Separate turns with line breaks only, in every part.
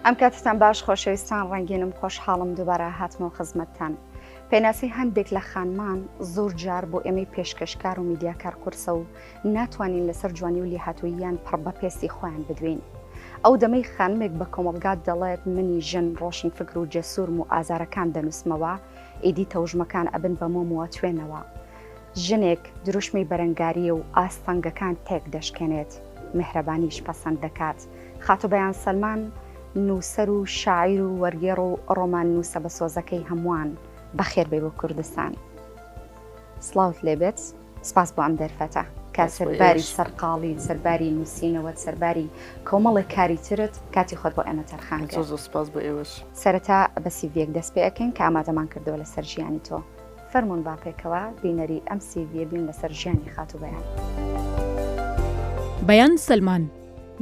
ئەم کاتتان باش خۆشەویستان ڕەنگینم خۆشحاڵم دووبارە هاتمەوە خزمەتتان پێناسی هەندێک لە خانمان زۆر جار بۆ ئێمەی پێشکەشکار و میدیاکار قورسە و ناتوانین لەسەر جوانی و لێهاتووییان پڕ بە پێستی خۆیان بدوێین. ئەو دەمەی خانمێک بە کۆمەڵگا دەڵێت منی ژن ڕۆشنفکر و جەسوورم و ئازارەکان دەنووسمەوە، ئیدی تەوژمەکان ئەبن بە مۆم و ئەتوێنەوە. ژنێک دروشمی بەرەنگارییە و ئاستەنگەکان تێک دەشکێنێت، میهرەبانییش پەسەند دەکات. خاتوو بەیان سەلمان نووسەر و شاعیر و وەرگێڕ و ڕۆماننووسە بەسۆزەکەی هەمووان، بەخێربێی بۆ کوردستان. سڵاوت لێبێت. سپاس بۆ ئەم دەرفەتە کە سەرباری سەرقاڵی و سەرباری نووسینەوەت سەرباری کۆمەڵێک کاری ترت کاتی خۆت بۆ ئێمە تەرخان کرد زۆر سپاس بۆ ئێوەش
سەرەتا بە
سیڤیەک دەست پێ ئەکەین کە ئامادەمان کردەوە لەسەر ژیانی تۆ فەرمونون با پێکەوە بینەری ئەم سیڤیە بین لەسەر ژیانی خاتوو بەیان
بەیان سەلمان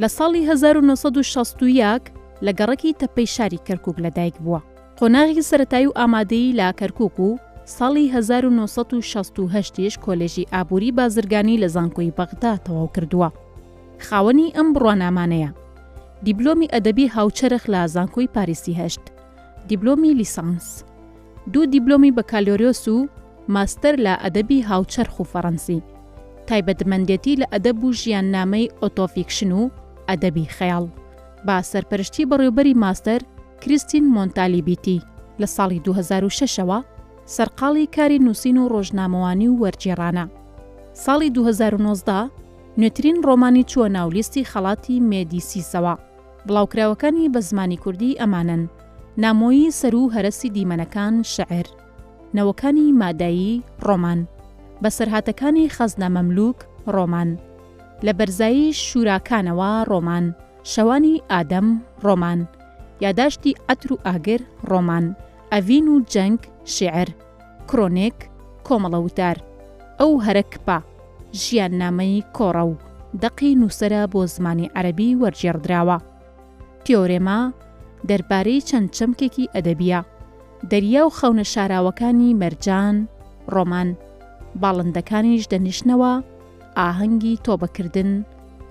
لە ساڵی 1960 یەک لە گەڕەکی تەپەی شاری کەرکووک لەدایک بووە. قۆناغی سەرەتایی و ئامادەیی لە کەرکووک و ساڵی هەزار و نۆ سەد و شەست و هەشت یش کۆلێژی ئابووری بازرگانی لە زانکۆی بەغدا تەواو کردووە. خاوەنی ئەم بڕوانامانەیە. دیبلۆمی ئەدەبی هاوچەرخ لە زانکۆی پاریسی هەشت دیبلۆمی لیسانس، دوو دیبلۆمی بەکالۆریۆس و ماستەر لە ئەدەبی هاوچەرخ و فەڕەنسی، تایبەتمەندێتی لە ئەدەب و ژیاننامەی ئۆتۆفیکشن و ئەدەبی خەیاڵ، بە سەرپەرشتی بەڕێوبەری ماستەر، کریستین مۆنتالیبیتی لە ساڵی دوو هەزار و شەش ەوە سەرقاڵی کاری نووسین و ڕۆژنامەوانی و وەرگێڕانە. ساڵی دوو هەزار و نۆزدە نوێترین ڕۆمانی چووە ناو لیستی خەڵاتی مێدیسیسەوە. بڵاوکراوەکانی بە زمانی کوردی ئەمانەن، نامۆیی سەر و هەرەسی دیمەنەکان، شعر، نەوەکانی مادایی، ڕۆمان، بەسەرهاتەکانی خەزنە مەملووک، ڕۆمان، لە بەرزایی شووراکانەوە، ڕۆمان، شەوانی ئادەم، ڕۆمان، یاداشتی عەتر و ئاگر، ڕۆمان، ئەڤین و جەنگ، شیعر، کرۆنێک، کۆمەڵە وتار، ئەو هەرە کپە، ژیاننامەی کۆڕە و دەقی نووسەرە بۆ زمانی عەرەبی وەرگێڕدراوە. تیۆرێما دەربارەی چەند چەمکێکی ئەدەبییە. دەریا و خەونە شاراوەکانی مەرجان، ڕۆمان، باڵندەکانیش دەنیشنەوە، ئاهەنگی تۆبەکردن،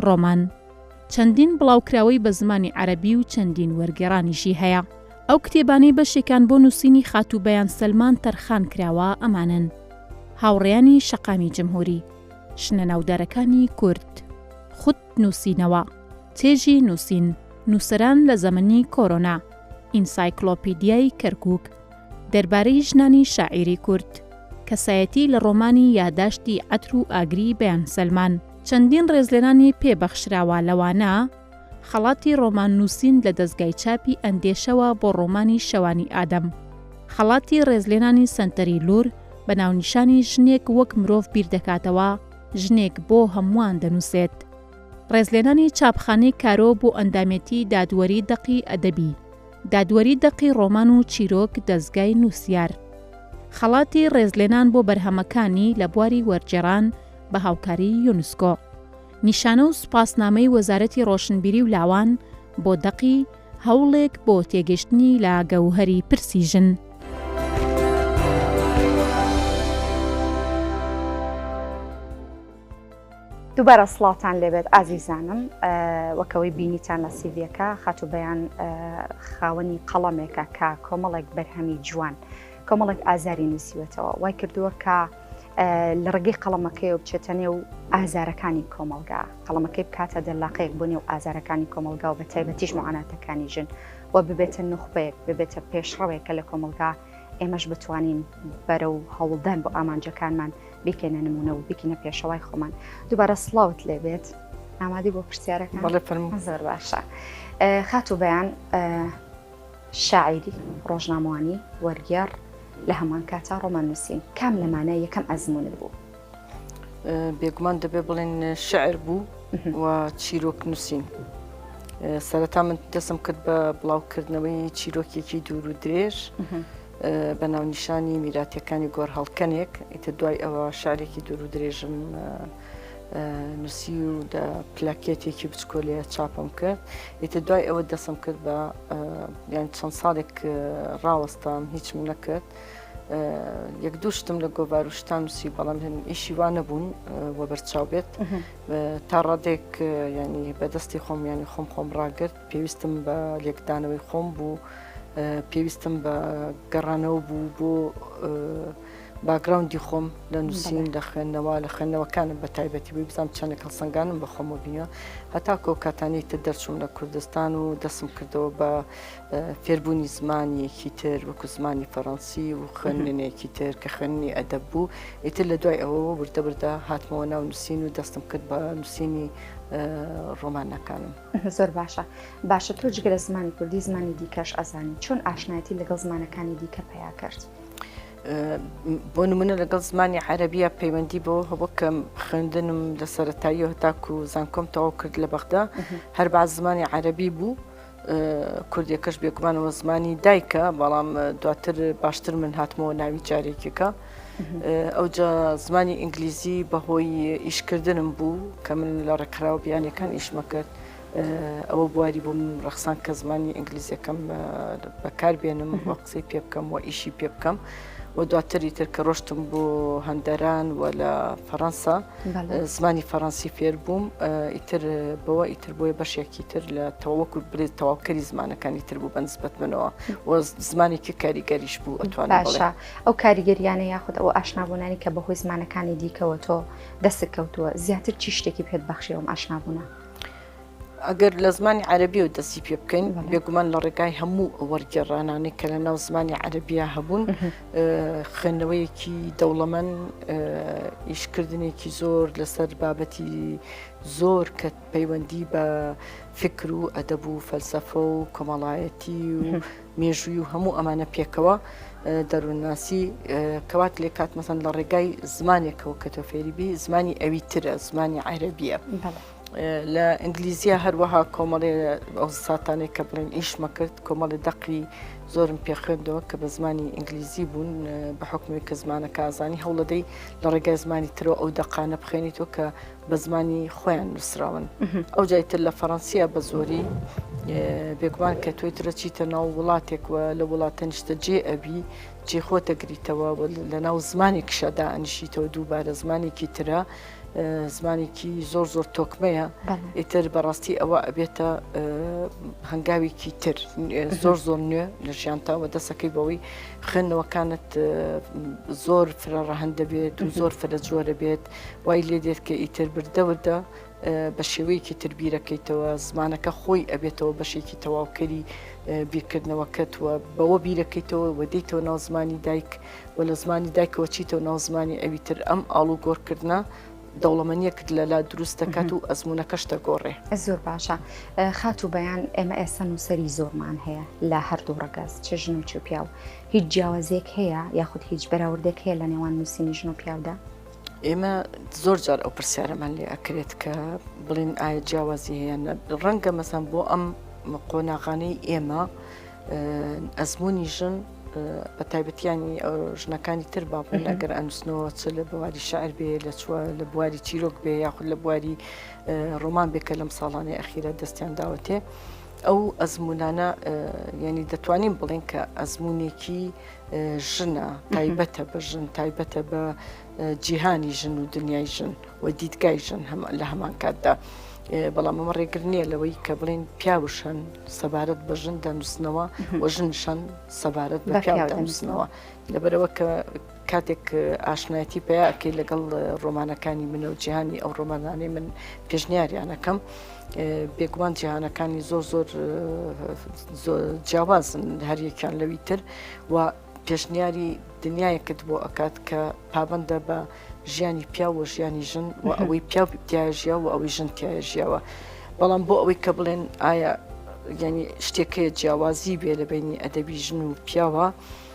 ڕۆمان. چەندین بڵاوکراوەی بە زمانی عەرەبی و چەندین وەرگێڕانیشی هەیە. ئەو کتێبانەی بەشێکان بۆ نووسینی خاتوو بەیان سەلمان تەرخان کراوە ئەمانەن، هاوڕێیانی شەقامی جمهوری، شنە ناودارەکانی کورد، خود نووسینەوە، چێژی نووسین، نووسەران لە زەمەنی کۆرۆنا، ئینسایکلۆپیدیای کەرکووک، دەربارەی ژنانی شاعیری کورد، کەسایەتی لە ڕۆمانی یاداشتی عەتر و ئاگری بەیان سەلمان. چەندین ڕێزلێنانی پێ بەخشراوە لەوانە، خەڵاتی ڕۆمان نووسین لە دەزگای چاپی ئەندێشەوە بۆ ڕۆمانی شەوانی ئادەم، خەڵاتی ڕێزلێنانی سەنتەری لوور بە ناونیشانی ژنێک وەک مرۆڤ بیر دەکاتەوە، ژنێک بۆ هەمووان دەنووسێت، ڕێزلێنانی چاپخانەی کارۆ بۆ ئەندامێتی دادوەری دەقی ئەدەبی، دادوەری دەقی ڕۆمان و چیرۆک دەزگای نووسیار، خەڵاتی ڕێزلێنان بۆ بەرهەمەکانی لە بواری وەرگێڕان، بە هاوکاری یونسکۆ. نیشانە و سوپاسنامەی وەزارەتی ڕۆشنبیری و لاوان بۆ دەقی، هەوڵێک بۆ تێگەشتنی لە گەوهەری پرسی ژن.
دووبارە سڵاوتان لێبێت ئازیزانم وەکەوەی بینیتان لە سیڤەکە خاتو بەیان خاوەنی قەڵەمێکە کە کۆمەڵێک بەرهەمی جوان کۆمەڵێک ئازاری نووسیوەتەوە وای کردووە کە لە ڕێگەی قەڵەمەکەی و بچێتە نێو ئازارەکانی کۆمەلگا قەڵەمەکەی بکاتە دەرلاقەیەک بۆ نێو ئازارەکانی کۆمەلگا و بە تایبەتیش معاناتەکانی ژن و ببێتە نوخبەیەک ببێتە پێشڕەوێک کە لە کۆمەلگا ئێمەش بتوانین بەرە و هەوڵدان بۆ ئامانجەکانمان بیکەنە نمونە و بکینە پێشەوای خۆمان دووبارە سلااوت لێبێت ئامادی بۆ پرسیارەکە بەڵێ فەرم زۆر باشە خاتو بەیان شاعیری، ڕۆژنامەوانی، وەرگێڕ، لە هەمان کاتا ڕۆمان نووسین، کام لەمانە یەکەم ئەزموونت بوو؟
بێگومان دەبێ بڵێن شعر بوو و چیرۆک نووسین. سەرەتا من دەسم کرد بە بڵاوکردنەوەی چیرۆکێکی دوور و درێژ بە ناونیشانی میراتەکانی گۆر هەڵکەنێک ئیتە دوای ئەوە شارێکی دوور و درێژم نووسی و پلاکێتێکی بچکۆ لێ چاپم کرد ئیتە دوای ئەوە دەسم کرد بە یان چەند ساڵێک ڕاوەستام هیچم نەکرد یەک دوو شتم لە گۆڤار و شتان نووسی بەڵام هەن ئیشی وا نەبوون وە بەرچاو بێت تا ڕادێک ینی بەدەستی خۆم ینی خۆم خۆم ڕاگرت پێویستم بە لێکدانەوەی خۆم بوو پێویستم بە گەڕانەوە بوو بۆ باکگراوندی خۆم لە نووسین لە خوێندنەوە لە خوێندنەوەکانم بە تایبەتی بووی بزانام چەندێک هەڵسەنگانم بە خۆمەوە بینیوە هەتا کۆکاتانی تر دەرچوم لە کوردستان و دەسم کردەوە بە فێربوونی زمانیەکی تر وەکو زمانی فەڕەنسی و خوێندنێکی تر کە خوێنی ئەدەب بوو ئیتر لە دوای ئەوە وردە بردە هاتمەوە ناو نووسین و دەستم کرد بە نووسینی ڕۆمانەکانم زۆر
باشە باشە تۆ جگە لە زمانی کوردی زمانی دیکەش ئەزانی چۆن ئاشنایەتی لەگەڵ زمانەکانی دیکە پیا کرد.
بۆ نمونە لەگەڵ زمانی عەربیە پەیوەندی بۆ هەبوو کە خوێندنم لە سەرەتایی هەتاکو و زانکۆم تەواو کرد لە بەغدا هەر باز زمانی عەربی بوو. کوردیەکەش بێگومانەوە زمانی دایکە بەڵام دواتر باشتر من هاتمەوە ناوی جارێکێکە ئەو زمانی ئینگلیزی بەهۆی ئیشکردنم بوو کە من لە ڕێکخراوە بیانەکان ئیشمە کرد ئەوە بواری بووم ڕەخسان کە زمانی ئینگلیزیەکەم بەکار بێنم بۆ قسەی پێ بکەم و ئیشی پێ بکەم و دواتری تر کە ڕۆشتم بۆ هەندەران و لە فەەنسا زمانی فەەنسی فێر بووم ئیتر بەوە ئیتر بۆیە بەشێکی تر لە تەواوەکو برێت تەواوکەری زمانەکانی تر بوو بەنسبەت منەوە و زمانێکی کاریگەریش بوو ئەتوان باشە ئەو کاریگەریانە
یاخود ئەو ئاشنابوونانی کە بەهۆی زمانەکانی دیکەوە تۆ دەست کەوتووە زیاتر چی شتێکی پێت بەخشیەوەم ئاشنابووە.
ئەگەر لە زمانی عەربی و دەستی پێ بکەین بێگومان لە ڕێگای هەموو وەرگێڕانانی کە لە ناو زمانی عەربیا هەبوون خوێندنەوەیەکی دەوڵەمەن ئیشکردنێکی زۆر لەسەر بابەتی زۆر کە پەیوەندی بە فکر و ئەدەب و فەلسەفە و کۆمەڵایەتی و مێژووی و هەموو ئەمانە پێکەوە دەروونناسی کەوات لێ کات مەسەن لە ڕێگای زمانێکەوە کە تۆ فێریبی زمانی ئەوی ترە زمانی عیرەبیە. لە ئینگلیزیە هەروەها کۆمەڵێ ئەو ساتانێک کە بڵێن ئیشمە کرد کۆمەڵی دەقی زۆرم پێخوێندەوە کە بە زمانی ئینگلیزی بوون بە حکومی کە زمانە کازانی هەوڵەدەی لە ڕێگای زمانی ترەوە ئەو دەقانە بخێنیتەوە کە بە زمانی خۆیان نووسراون ئەو جایتر لە فەڕەنسیە بە زۆری بێگومان کە تۆی ترە چیتە ناو وڵاتێک وە لە وڵاتە نیشتە جێ ئەبی جێ خۆتە گریتەوە لە ناو زمانی کشەدا ئەنشیتەوە دووبارە زمانێکی ترە زمانێکی زۆر زۆر تۆکمەیە ئیتر بەڕاستی ئەوە ئەبێتە هەنگاوێکی تر زۆر زۆر نوێ لە ژیانتاوە دەسەکەی بەوەی خوێندنەوەکانت زۆر فرە ڕەهند دەبێت و زۆر فرە جۆرە بێت وای لێ دێت کە ئیتر بردە وردە بە شێوەیەکی تر بیرەکەیتەوە زمانەکە خۆی ئەبێتەوە بەشێکی تەواوکەری بیرکردنەوەکەت وە بەوە بیرەکەیتەوە وە دیتەوە ناو زمانی دایک و لە زمانی دایکەوە چیتەوە ناو زمانی ئەوی تر ئەم ئاڵ و گۆڕکردە دەوڵەمەنیەکت لەلا دروست دەکات و ئەزمونونەکەشتە گۆڕێ زۆر باشە
خاتوو بەیان ئێمە ئێستا نووسری زۆرمان هەیە لە هەردوو ڕگەز چ ژن و چ پیاو هیچ جیاوازێک هەیە یاخود هیچ بەراوردێک هەیە لە نێوان نووسینی ژن و پیاودا ئێمە
زۆر جار ئەو پرسیارەمان لێ ئەکرێت کە بڵین ئایا جیاوازی هەیە ڕەنگە مەسان بۆ ئەم قۆناغانەی ئێمە ئەزمموی ژن بە تایبەتیانی ژنەکانی تر باپن ئەگەر ئەنووسنەوە چ لە بواری شعر بێ لە چوە لە بواری چیرۆک بێ یاخود لە بواری ڕۆمان بێکە لەم ساڵانەی ئەخیرە دەستیان داوەتێ ئەو ئەزمونانە ینی دەتوانین بڵێن کە ئەزمونێکی ژنە تایبەتە بە ژن تایبەتە بە جیهانی ژن و دنیای ژن و دیدگای ژن لە هەمان کاتدا. بەڵام ئەمە ڕێگر نییە لەوەی کە بڵین پیاوشن سەبارەت بە ژن دەنووسنەوە و ژنشان سەبارەت بە پیاو دەنووسنەوە لەبەرەوە کە کاتێک ئاشنایەتی پیاکەی لەگەڵ ڕۆمانەکانی منە و جیهانی ئەو ڕۆمانانەی من پێشنیاریانەکەم. بێگومان جیهانەکانی زۆر زۆر جیاوازن هەریەکیان لەوی تر و پێشنیاری دنیایەکت بۆ ئەکات کە پابندە بە ژیانی پیا و ژیانی ژن و ئەوەی پیا تایژیا و ئەوەی ژن تایژیاوە بەڵام بۆ ئەوەی کە بڵێن ئایا ینی شتێکەیە جیاوازی بێ لە بینی ئەدەبی ژن و پیاوە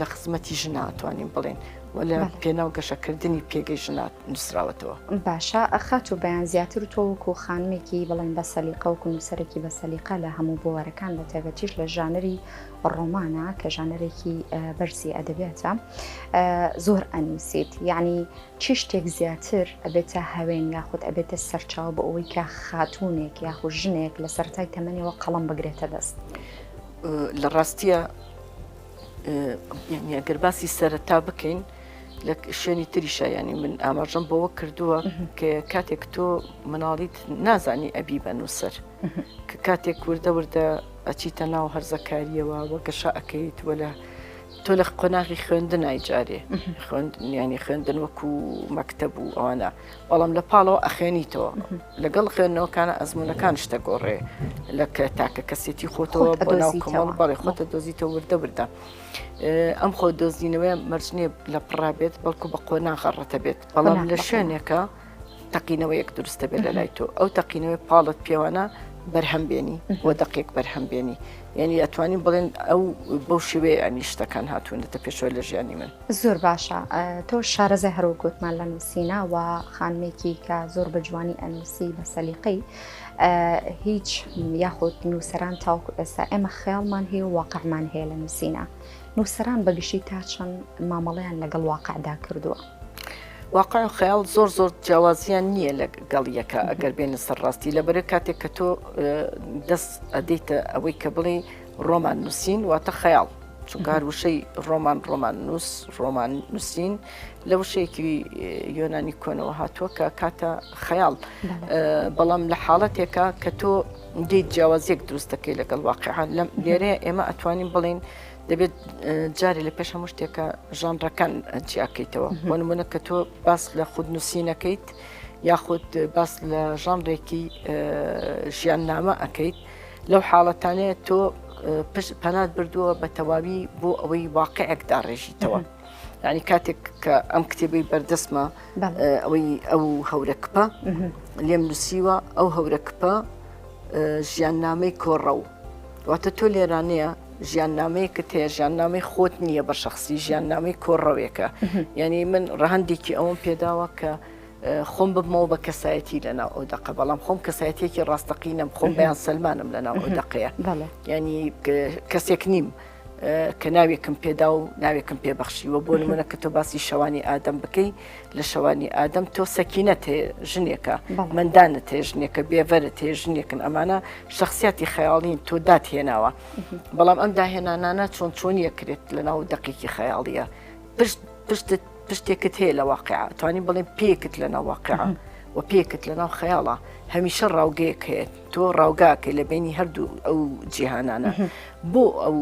لە خزمەتی ژناتوانین بڵێن و لە پێناو گەشەکردنی پێگەی ژنات نووسراوەتەوە باشە ئەخات
و بەیان زیاتر و تۆوەکو و خانمێکی بڵێن بە سەلیقەوەکو نووسەرێکی بە سەلیقە لە هەموو بوارەکان بە تایبەتیش لە ژانری ڕۆمانە کە ژانەرێکی بەرزی ئەدەبێتە زۆر ئەنووسیت یعنی چی شتێک زیاتر ئەبێتە هەوێن یاخود ئەبێتە سەرچاو بۆ ئەوەی کە خاتونێک یاخود ژنێک لە سەرای تەمەنیەوە قەڵم بگرێتە دەست. لە
ڕاستیە یعنی ئەگەر باسی سەرەتا بکەین لە شوێنی تریشە ینی من ئاماژەم بەوە کردووە کە کاتێک تۆ مناڵیت نازانی ئەبی بە نووسەر کە کاتێک وردە وردە ئەچیتە ناو هەرزەکاریەوە وە گەشە ئەەکەیت وە لە تۆ لە قۆناغی خوێندن نایجارێ خوێندنیانی خوێندن وەکو مەکتە بوو ئەوانە بەڵام لە پاڵەوە ئەخێنیتەوە لەگەڵ خوێندنەوەکانە ئەزمونونەکان شتە گۆڕێ لە تاکە کەسێتی خۆتەوە بۆ ناو کۆمەڵ بەڵێ خۆتە دۆزیتە وردە وردە ئەم خۆ دۆزینەوەی مەرجنیە لە پڕا بێت بەڵکو بە قۆناغەڕەتە بێت بەڵام لە شوێنێکە تەقینەوە یەک دروستە بێت لە لای تۆ ئەو تەقینەوەی پاڵت پێوانە بەرهەم بێنی بۆ دەقێک بەرهەم بێنی یعنی ئەتوانین بڵێن ئەو بەو شێوەیە ئەنی شتەکان هاتوونەتە پێشەوە لە ژیانی من. زۆر باشە
تۆ شارەزای هەروەک گوتمان لە نووسینە و خانمێکی کە زۆر بە جوانی ئەنووسی بە سەلیقەی هیچ یاخود نووسەران تاوکو ئێستا ئێمە خێڵمان هەیە و واقعمان هەیە لە نووسینە نووسەران بەگشتی تا چەند مامەڵیان لەگەڵ واقعدا کردووە. واقع
خەیاڵ زۆر زۆر جیاوازیان نییە لە گەڵیەکە ئەگەر بێنە سەر ڕاستی لە بەرە کاتێک کە تۆ دەست ئەدەیتە ئەوەی کە بڵێ ڕۆمان نووسین واتە خەیاڵ چونکە هەر وشەی ڕۆمان ڕۆمان نووس ڕۆمان نووسین لە وشەیەکی یۆنانی کۆنەوە هاتووە کە کاتە خەیاڵ بەڵام لە حاڵەتێکە کە تۆ دیت جیاوازیەک دروست دەکەی لەگەڵ واقعان لەم لێرەیە ئێمە ئەتوانین بڵین دەبێت جارێ لە پێش هەموو شتێکە ژانڕەکان جیاکەیتەوە بۆ نمونە کە تۆ باس لە خود نووسینەکەیت یاخود باس لە ژانڕێکی ژیان نامە ئەەکەیت لەو حاڵەتانەیە تۆ پەنات بردووە بە تەواوی بۆ ئەوەی واقعێک داڕێژیتەوە. ینی کاتێک کە ئەم کتێبەی بەردەستمە ئەوەی ئەو هەورە کپە لێم نووسیوە ئەو هەورە کپە ژیان نامەی کۆڕە و واتە تۆ لێرانەیە ژیان نامەیەکت هەیە ژیان نامی خۆت نییە بە شخصی ژیان نامی کۆڕەوێکە یعنی من ڕەهندێکی ئەوم پێداوە کە خۆم ببمەوە بە کەسایەتی لە ناو ئەو دەقە بەڵام خۆم کەسایەتێکی ڕاستەقینەم خۆم بەیان سلمانم لە ناو ئەو دەقەیە ینی کەسێک نیم. کە ناوێکم پێدا و ناوێکم پێبەخشیوە بۆ نمونە کە تۆ باسی شەوانی ئادەم بکەی لە شەوانی ئادەم تۆ سەکینە تێ ژنێکە مندانە تێ ژنێکە بێڤەرە تێ ژنێکن ئەمانە شخصیاتی خەیاڵین تۆ دات هێناوە بەڵام ئەم داهێنانانە چۆن چۆنیەکرێت لە ناو دەقێکی خەیاڵیە پشت پشتت شتێکت هەیە لە واقع توانین بڵێ پێکت لەناو واقع و پێکت لەناو خەیاڵە هەمیشە ڕاوگەیەک هەیە تۆ ڕاوگاکە لە بینی هەردوو ئەو جیهانانە بۆ ئەو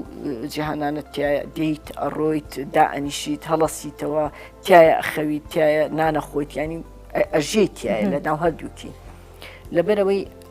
جیهانانە تایە دیت ئەڕۆیت دا ئەنیشیت هەڵەسیتەوە تایە ئەخەویت تایە نانە خۆیت ینی ئەژێت تایە لە ناو هەردووکی لەبەرەوەی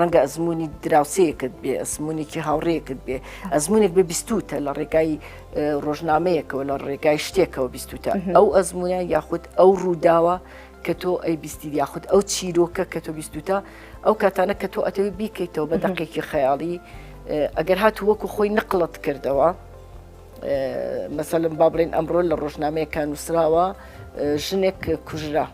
ڕەنگە ئەزمموی دراوسەیەکت بێ ئەزمموونێکی هاوڕێکت بێ ئەزمموونێک بە بیستوتە لە ڕێگای ڕۆژنامەیەکەوە لە ڕێگای شتێکەوە بیستوتە ئەو ئەزمموە یاخود ئەو ڕووداوە کە تۆ ئەی بیستی یاخود ئەو چیرۆکە کە تۆ بیستوتە ئەو کاتانە کە تۆ ئەتەوی بیکەیتەوە بە دەقێکی خەیاڵی ئەگەر هاتو وەکو خۆی نقلت کردەوە مەسەلم با بڵێن ئەمڕۆ لە ڕۆژنامەیەکان نووسراوە ژنێک کوژرا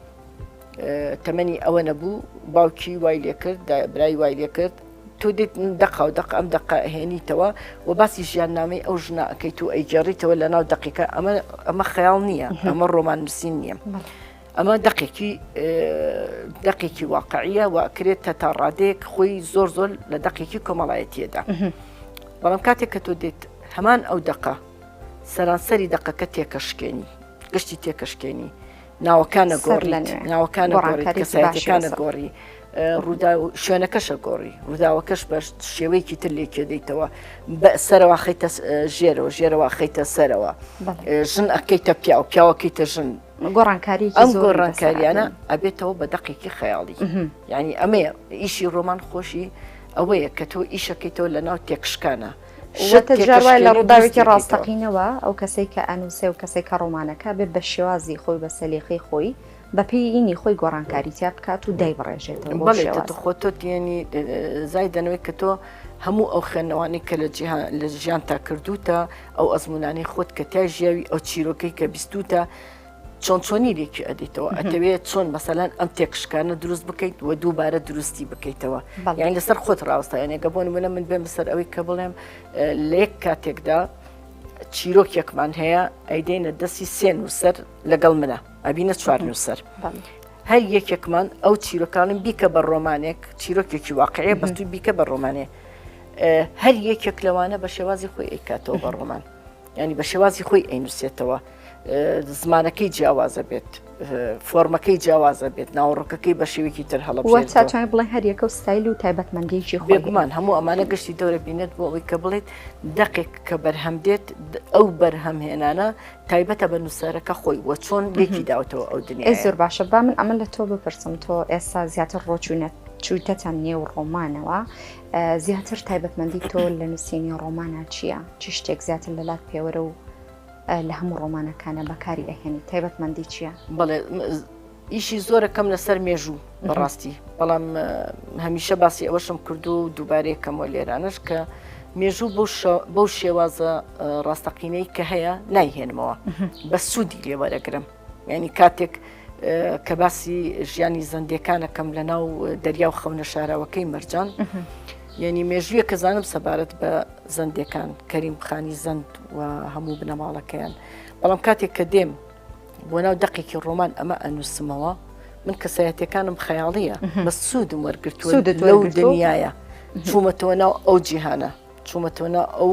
تەمەنی ئەوەنە بوو باوکی وای لێ کرد برای وای لێ کرد تۆ دێت دەقا و دەق ئەم دەقا هێنیتەوە و باسی ژیان نامی ئەو ژنا ئەەکەیت و ئەیگەڕیتەوە لە ناو دقیقە ئەمە ئەمە خەیاڵ نییە ئەمە ڕۆمان نووسین نییە. ئەمە دقێکی دقێکی واقعیە و کرێت تا تا ڕادێک خۆی زۆر زۆر لە دقێکی کۆمەڵایەتیەدا بەڵام کاتێک کە تۆ دێت هەمان ئەو دقە سەرانسەری دقەکە تێکەشکێنی گشتی تێکەشکێنی ناوەکانە گۆڕیت ناوەکانە گۆڕیت کەسایەتەکانە گۆڕی ڕوودا و شوێنەکەشە گۆڕی ڕووداوەکەش بەش شێوەیەکی تر لێکێ دەیتەوە بە سەرەوە خیتە ژێرەوە ژێرەوە خیتە سەرەوە ژن ئەکەیتە پیا و پیاوەکەیتە ژن گۆڕانکاری ئەم گۆڕانکاریانە ئەبێتەوە بە دەقێکی خەیاڵی ینی ئەمەیە ئیشی ڕۆمان خۆشی ئەوەیە کە تۆ ئیشەکەیتەوە لە ناو تێکشکانە شتێکوای
لە ڕووداوێکی ڕاستەقینەوە ئەو کەسێک کە ئەنووسێ و کەسێک کە ڕۆمانەکە بێ بە شێوازی خۆی بە سەلیقی خۆی بەپیینی خۆی گۆڕانکاری تیا بکات و دای بڕێژێتەوە خۆ تۆ
تێنی زای دەنەوەی کە تۆ هەموو ئەو خوێندنەوانی کە لە جیهان لە ژیان تا کردوتە ئەو ئەزمونانی خۆت کە تای ژیاوی ئەو چیرۆکەی کە بیستوتە چۆن چۆنی لێکی ئەدیتەوە ئەتەوێت چۆن مەسەلەن ئەم تێکشکانە دروست بکەیت و دووبارە دروستی بکەیتەوە یان لەسەر خۆت ڕاستایانێکە بۆن منە من بێم سەر ئەوەی کە بڵێم لە یەک کاتێکدا چیرۆکێکمان هەیە ئەیدەینە دەستی سێ نووسەر لەگەڵ منە ئەبینە چوار نووسەر هەر یەکێکمان ئەو چیرۆکانم بیکە بە ڕۆمانێک چیرۆکێکی واقعەیە بەستوی بیکە بە ڕۆمانێ هەر یەکێک لەوانە بە شێوازی خۆی ئەیکاتەوە بە ڕۆمان یانی بە شێوازی خۆی ئەینوسێتەوە زمانەکەی جیاوازە بێت فۆرمەکەی جیاوازە بێت ناوەڕۆکەکەی بە شێوێکی تر هەڵە چاتوانێت بڵێ
هەریەکە و ستایل و تایبەتمەندیکی خۆگومان هەموو ئەمانە
گشتی دەورە بینێت بۆ ئەوی کە بڵێت دەقێک کە بەرهەم دێت ئەو بەرهەم هێنانە تایبەتە بە نووسەرەکە خۆی وە چۆن لێکی داوتەوە ئەو دنیا زۆر باشە با من ئەمە
لە تۆ بپرسم تۆ ئێستا زیاتر ڕۆچوونەت چوویتەتان نێو ڕۆمانەوە زیاتر تایبەتمەندی تۆ لە نووسینی ڕۆمانە چییە؟ چی شتێک زیاتر لە لات پێوەرە و لە هەموو ڕۆمانەکانە بەکاری ئەهێنی تایبەتمەندی چییە؟ بەڵێ
ئیشی زۆرە کەم لەسەر مێژوو بەڕاستی بەڵام هەمیشە باسی ئەوەشم کردو و دووبارەیە کەمەوە لێرانش کە مێژوو بەو شێوازە ڕاستەقینەی کە هەیە نایهێنمەوە بە سوودی لێوەرەگرم یعنی کاتێک کە باسی ژیانی زەندەکانەکەم لە ناو دەریا و خەونە شاراوەکەی مەرجان یعنی مێژویە کە زانم سەبارەت بە زەندەکان کەریم خانی زەند و هەموو بنەماڵەکەیان بەڵام کاتێک کە دێم بۆ ناو دقێکی ڕۆمان ئەمە ئەنووسمەوە من کەسایەتەکانم خەیاڵیە بە سوودم وەرگرتووە لەو دنیاە چوومەتەوە ناو ئەو جیهانە چوومەتەوە ناو ئەو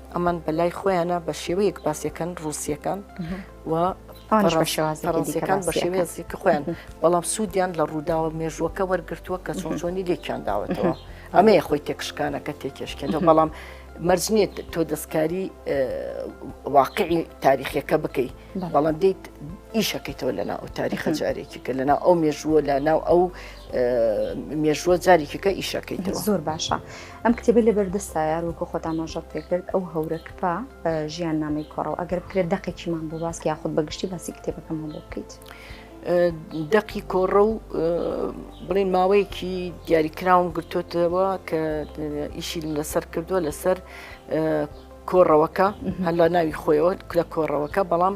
ئەمان بەلای خۆیانە بە شێوەیەک باسیەکەن ڕوسیەکان و پەڕەنسیەکان بە شێوەیەزی کە خۆیان بەڵام سوودیان لە ڕووداوە مێژووەکە وەرگتووە کە چۆن چۆنی لێکیان داوەتەوە ئەمەیە خۆی تێکشکانەکە تێکێشکێنەوە بەڵام مەرج نییە تۆ دەستکاری واقعی تاریخەکە بکەیت بەڵام دیت ئیشەکەیتەوە لەنا ئەو تاریخە جارێکی کە لەنا ئەو مێژووە لە ناو ئەو مێژووە جارێکیکە ئیشەکەیتەوە زۆر باشە
ئەم کتێبە لەبەر دەستا یار وەکو خۆت ئاماژەت پێ کرد ئەو هەورە کپە ژیان نامەی کۆڕەوە ئەگەر بکرێت دەقێکیمان بۆ باس یاخود بەگشتی باسی کتێبەکەمان بۆ بکەیت.
دەقی کۆڕە و بڵین ماوەیەکی دیاریکراوم گرتوتەوە کە ئیشی لەسەر کردووە لەسەر کۆڕەوەکە هەلا ناوی خۆیەوە لە کۆڕەوەکە بەڵام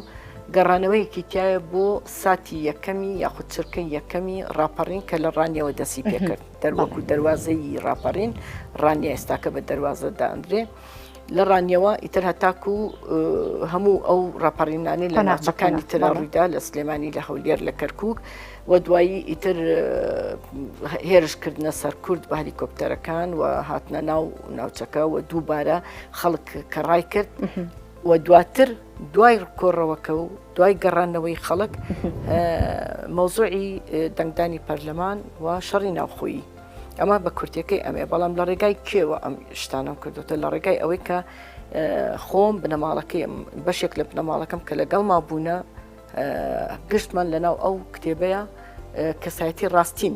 گەڕانەوەیەکی تایە بۆ ساتی یەکەمی یاخود چرکە یەکەمی ڕاپەڕین کە لە ڕانیەوە دەسی پێکرد دەروەک و دەروازەی ڕاپەڕین، ڕانیە ئێستاکە بە دەروازە دانرێ. لە ڕانیەوە ئیتر هەتاکو هەموو ئەو ڕاپەڕینانەی لە ناوچەکانی ترا ڕوویدا لە سلێمانی لە هەولێر لە کەرکک و دوایی ئیتر هێرشکردنە سەر کورد بە هەلیکۆپتەرەکان و هاتنە ناو ناوچەکە و دووبارە خەڵک کە ڕای کرد و دواتر دوای کۆڕەوەکە و دوای گەڕانەوەی خەڵک مەوزوعی دەنگدانی پەرلەمان و شەڕی ناوخۆیی ئەمە بە کورتەکەی ئەمێ بەڵام لە ڕێگای کێوە ئەم شتانم کردوتە لە ڕێگای ئەوەی کە خۆم بنەماڵەکەی بەشێک لە بنەماڵەکەم کە لەگەڵ ما بوونە گشتمان لەناو ئەو کتێبەیە کەسایەتی ڕاستین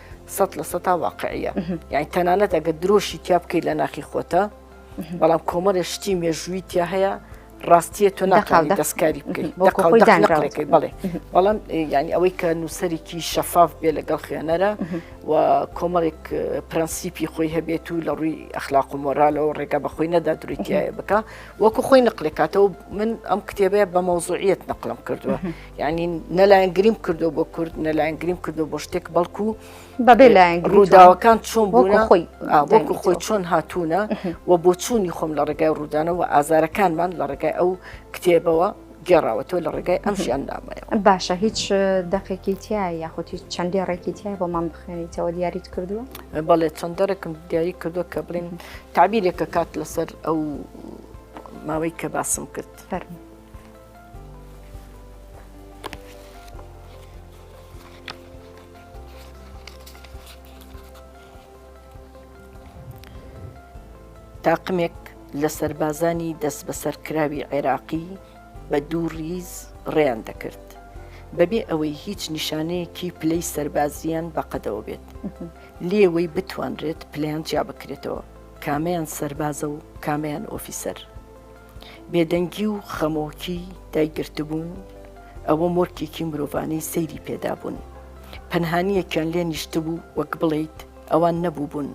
سەد لە سەتا واقعە یان تەنانەت ئەگە درۆشی تیا بکەیت لە ناخی خۆتە بەڵام کۆمەڵێ شتی مێژووی تیا هەیە ڕاستیە تۆ ناکاڵی دەستکاری بکەیت بڵێ بەڵام ینی ئەوەی کە نووسەرێکی شەفاف بێ لەگەڵ خوێنەرە و کۆمەڵێک پرەنسیپی خۆی هەبێت و لە ڕووی ئەخلاق و مۆرالەوە ڕێگا بە خۆی نەدا درویتایە بکە وەکو خۆی نقلێکاتەوە من ئەم کتێبەیە بە مەوزوعیت نقلم کردووە یعنی نەلایەن گریم کردو بۆ کورد نەلایەن گریم کردو بۆ شتێک بەڵکو بەبێ لایەن ڕووداوەکان چۆن بۆ خۆی بۆکو خۆی چۆن هاتوونە و بۆ چوونی خۆم لە ڕێگای ڕوودانەوە ئازارەکانمان لە ڕێگای ئەو کتێبەوە گێڕاوەتەوە لە ڕێگای ئەم ژیان نامەیە باشە هیچ
دەقێکی تیا یاخود هیچ چەندی ڕێکی تیا بۆمان بخێنیتەوە دیاریت کردووە بەڵێ چەند
دەرەکم دیاری کردو کە بڵێن تعبیرێکە کات لەسەر ئەو ماوەی کە باسم کرد فەرمی تاقمێک لە سەربازانی دەست بەسەرکراوی عێراقی بە دوو ڕیز ڕێیان دەکرد بەبێ ئەوەی هیچ نیشانەیەکی پلەی سەربازیان بەقەدەوە بێت لێوەی بتوانرێت پلیان جیا بکرێتەوە کامیان سەربازە و کامیان ئۆفیسەر بێدەنگی و خەمۆکی دایگرتبوون، ئەوە مۆرکێکی مرۆڤانەی سەیری پێدابوون، پەنهانییەکیان لێ نیشتبوو وەک بڵێیت ئەوان نەبووبوون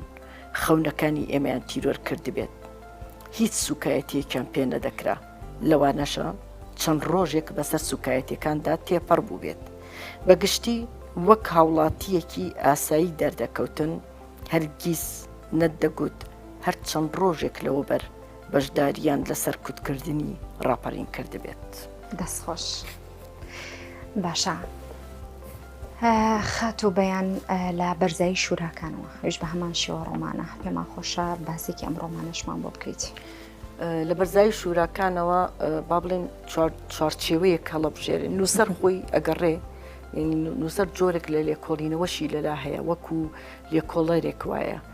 خەونەکانی ئێمەیان تیرۆر کردبێت، هیچ سووکایەتییەکیان پێ نەدەکرا، لەوانەشە چەند ڕۆژێک بەسەر سووکایەتییەکاندا تێپەڕ بووبێت، بە گشتی وەک هاوڵاتییەکی ئاسایی دەردەکەوتن، هەرگیز نەتدەگوت هەر چەند ڕۆژێک لەوەوبەر بەشداریان لە سەرکوتکردنی ڕاپەرین کردبێت. دەست خۆش
باشە خاتو بەیان لە بەرزایی شوراکانەوە ئەوش بە هەمان شێوە ڕۆمانە پێمان خۆشە باسێکی ئەم ڕۆمانەشمان بۆ بکەیت. لە
بەرزایی شوراکانەوە با بڵێن چوارچێوەیە کەڵەبژێرە نووسەر خۆی ئەگەڕێ نووسەر جۆرێک لە لێکۆڵینەوەشی لەلا هەیە وەکو لێکۆڵەرێک وایە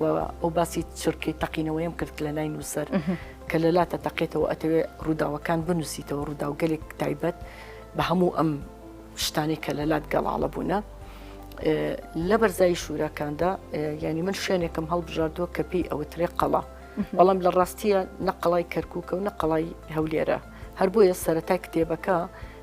و ئەو باسی چرکەی تەقینەوەیم کرد لە نای نووسەر کە لە لاتە تەقێتەوە ئەتەوێ ڕووداوەکان بنووسیتەوە ڕووداوگەلێک تایبەت بە هەموو ئەم شتانی کە لە لات گەڵاڵە بوونە لە بەرزایی شوورەکاندا ینی من شوێنێکم هەڵبژاردووە کە پێی ئەوترێ قەڵا بەڵام لە ڕاستیە نەقڵای کەرکووکە و نەقڵای هەولێرە هەر بۆیە سەتای کتێبەکە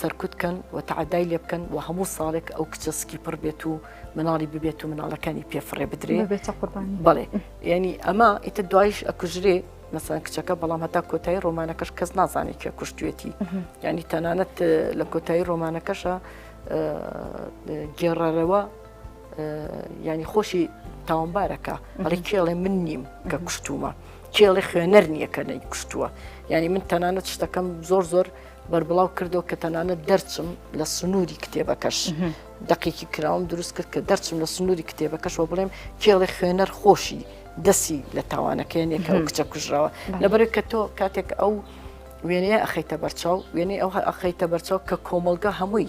سەرکوت کەن و تەعدای لێ بکەن و هەموو ساڵێک ئەو کچە سکی پڕ بێت و مناڵی ببێت و مناڵەکانی پێفڕێ بدرێ بێتە قوربانی بڵێ ینی ئەمە ئیتە دوایش ئەکوژرێ مەسان کچەکە بەڵام هەتا کۆتایی ڕۆمانەکەش کەس نازانێت کێ کوشتێتی ینی تەنانەت لە کۆتایی ڕۆمانەکەشە گێڕەرەوە ینی خۆشی تاوانبارەکە ئەڵی کێڵێ من نیم کە کوشتومە کێڵێ خوێنەر نییە کە نەی کوشتووە ینی من تەنانەت شتەکەم زۆر زۆر بەربڵاو کردەوە کە تەنانەت دەرچم لە سنووری کتێبەکەش دقێکی کراوم دروست کرد کە دەرچم لە سنووری کتێبەکەشەوە بڵێم کێڵێ خوێنەر خۆشی دەسی لە تاوانەکەیان یەکە کچە کوژراوە لەبەرێک کە تۆ کاتێک ئەو وێنەیە ئەخیتە بەرچاو وێنەی ئەو ئەخیتە بەرچاو کە کۆمەلگا هەمووی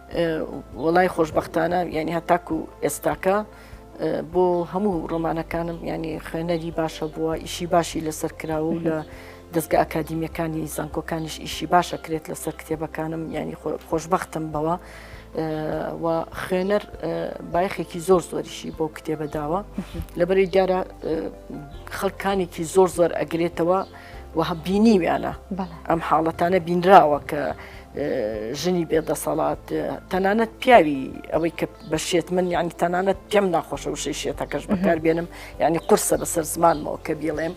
وەڵای خۆشببختانە ینی هەتاکو ئێستاکە بۆ هەموو ڕۆمانەکانم ینی خوێنەری باشە بووە ئیشی باشی لەسەر کراوە و لە دەستگە ئەکادیمیەکانی زانکۆکانیش ئیشی باشە کرێت لەسەر کتێبەکانم ینی خۆشببختم بەوە و خوێنەر بایخێکی زۆر زۆریشی بۆ کتێبە داوە لەبەری دیارە خەڵکانێکی زۆر زۆر ئەگرێتەوە وە بینیویانە ئەم حاڵەتانە بینراوە کە ژنی بێ دەسەڵات تەنانەت پیاوی ئەوەی کە بە شێت من یعنی تەنانەت پێم ناخۆشە و شەی شێتەکەش بەکار بێنم یعنی قرسە بەسەر زمانمەوە کە بیڵێم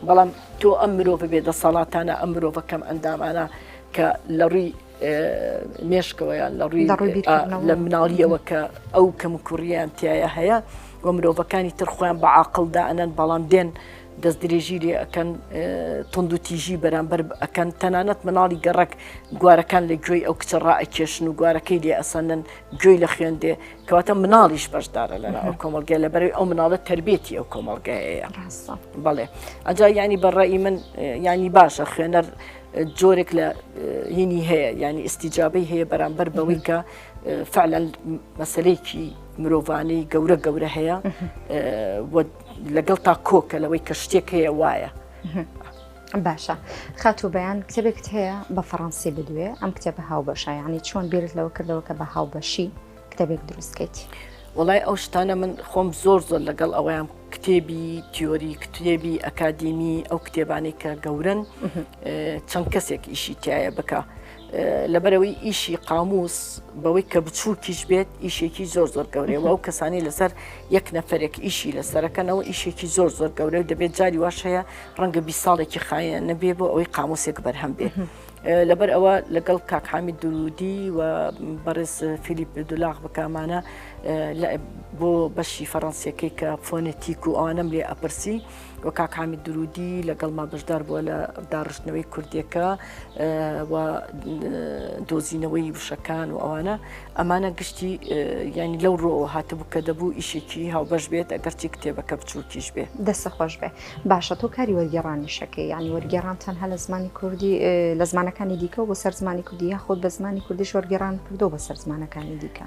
بەڵام تۆ ئەم مرۆڤ بێ دەسەڵاتانە ئەم مرۆڤە کەم ئەندامانە کە لە ڕووی مێشکەوەیان لە ڕووی لە مناڵیەوە کە ئەو کەم کوڕیان تایە هەیە و مرۆڤەکانی ترخۆیان بە عقلدا ئەنەن بەڵام دێن دەست درێژی لێ ئەەکەن تند و تیژی بەرامبەر ئەەکەن تەنانەت مناڵی گەڕک گوارەکان لە گوێی ئەو کچە ڕائەکێشن و گوارەکەی لێ ئەسەنن گوێی لە خوێندێ کەواتە مناڵیش بەشدارە لە ئەو کۆمەلگە لە بەرەوەی ئەو مناڵە تربێتی ئەو کۆمەلگایەیە بەڵێ ئەجا ینی بەڕێی من ینی باشە خوێنەر جۆرێک لە هینی هەیە ینی ئستیجابەی هەیە بەرامبەر بەوەی کە فعلەن مەسلەیەکی مرۆڤانەی گەورە گەورە هەیە لەگەڵتا کۆکە لەوەی کە شتێک هەیە وایە.
باشە خاتوو بەیان کتێبێکت هەیە بە فەڕەنسی بدوێ ئەم کتێبە هاو بەشایانی چۆن بیرت لەوە کردەوە کە بە هاو بەشی کتێبێک دروستکەیت. وڵای ئەو
شتانە من خۆم زۆر زۆر لەگەڵ ئەویان کتێبی تیۆری کتێبی ئەکادیمی ئەو کتێبانی کە گەورن چەند کەسێک ئیشی تایە بکە لەبەرەوەی ئیشی قاموس بەوەی کە بچووکیش بێت ئیشێکی زۆر زۆر گەورەیە ئەو کەسانی لەسەر یەک نەفرێک ئیشی لەسەرەکەنەوە ئیشێکی زۆر زۆر گەورە و دەبێت جاری واش هەیە ڕەنگە بی ساڵێکی خایە نەبێ بۆ ئەوەی قاموسێک بەرهەم بێت. لەبەر ئەوە لەگەڵ کاکحامی درودی و بەڕێز فیلیپ دولاغ بکامانە بۆ بەشی فەڕەنسیەکەی کە فۆنەتیک و ئەوانم لێ ئەپرسی و کاک حامد درودی لەگەڵما بەشدار بووە لە داڕشتنەوەی کوردیەکە و دۆزینەوەی وشەکان و ئەوانە ئەمانە گشتی ینی لەو ڕۆ هاتبوو کە دەبوو ئیشێکی هاوبەش بێت ئەگەرچی کتێبەکە بچووکیش بێ دەسە خۆش بێ
باشە تۆ کاری وەرگێڕانیشەکەی ینی وەرگێڕان تەنها لە زمانی کوردی لە زمانەکانی دیکە و بە سەر زمانی کوردی یاخود بە زمانی کوردیش وەرگێڕان کردو بەسەر زمانەکانی دیکە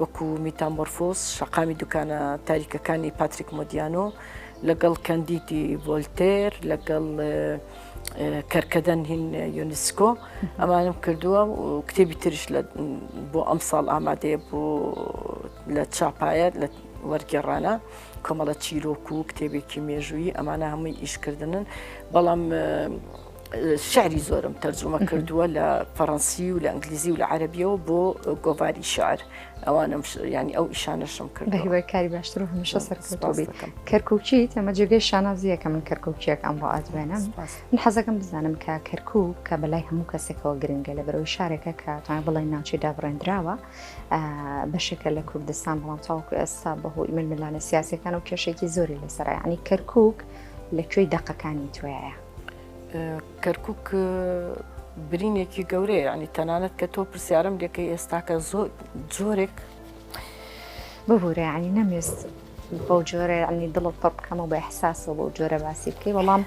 وەکو میتامۆرفۆز، شەقامی دوکانە تاریکەکانی پاتریک مۆدیانۆ، لەگەڵ کەندیدی ڤۆلتێر، لەگەڵ کەرکەدەن هین یونسکۆ ئەمانم کردووە و کتێبی ترش بۆ ئەم ساڵ ئامادەیە بۆ لە چاپایەت لە وەرگێڕانە کۆمەڵە چیرۆک و کتێبێکی مێژووی ئەمانە هەمووی ئیشکردنن بەڵام شعری زۆرم تەرجمە کردووە لە فەڕەنسی و لە ئەنگلیزی و لە عەربیەوە بۆ گۆڤاری شعر ئەوانم ینی ئەو ئیشانەشم کرد بە هیوای کاری باشتر و
هەمیشە سەرکەوتبی کەرکوچی ئەمە جێگەی شانازیەکە من کەرکوچیەک ئەم بۆ ئادوێنم من حەزەکەم بزانم کە کەرکو کە بەلای هەموو کەسێکەوە گرنگە لە بەرەوەی شارێکە کە تا بڵێ ناوچەی دابڕێنراوە بەشێکە لە کوردستان بەڵام تاوکو ئێستا بەهۆی ململانە سیاسەکان و کێشێکی زۆری لەسەرانی کەرکک لە کوێی دەقەکانی توایە
کەرکک برینێکی گەورەیە ینی تەنانەت کە تۆ پرسیارم لەکە ئێستاکە زۆر جۆرێک
ببوورە ینی نەمێست بەو جۆرە ینی دڵت پڕ بکەمە بە حساسەوە بەو جۆرە باسی بکەی وەڵام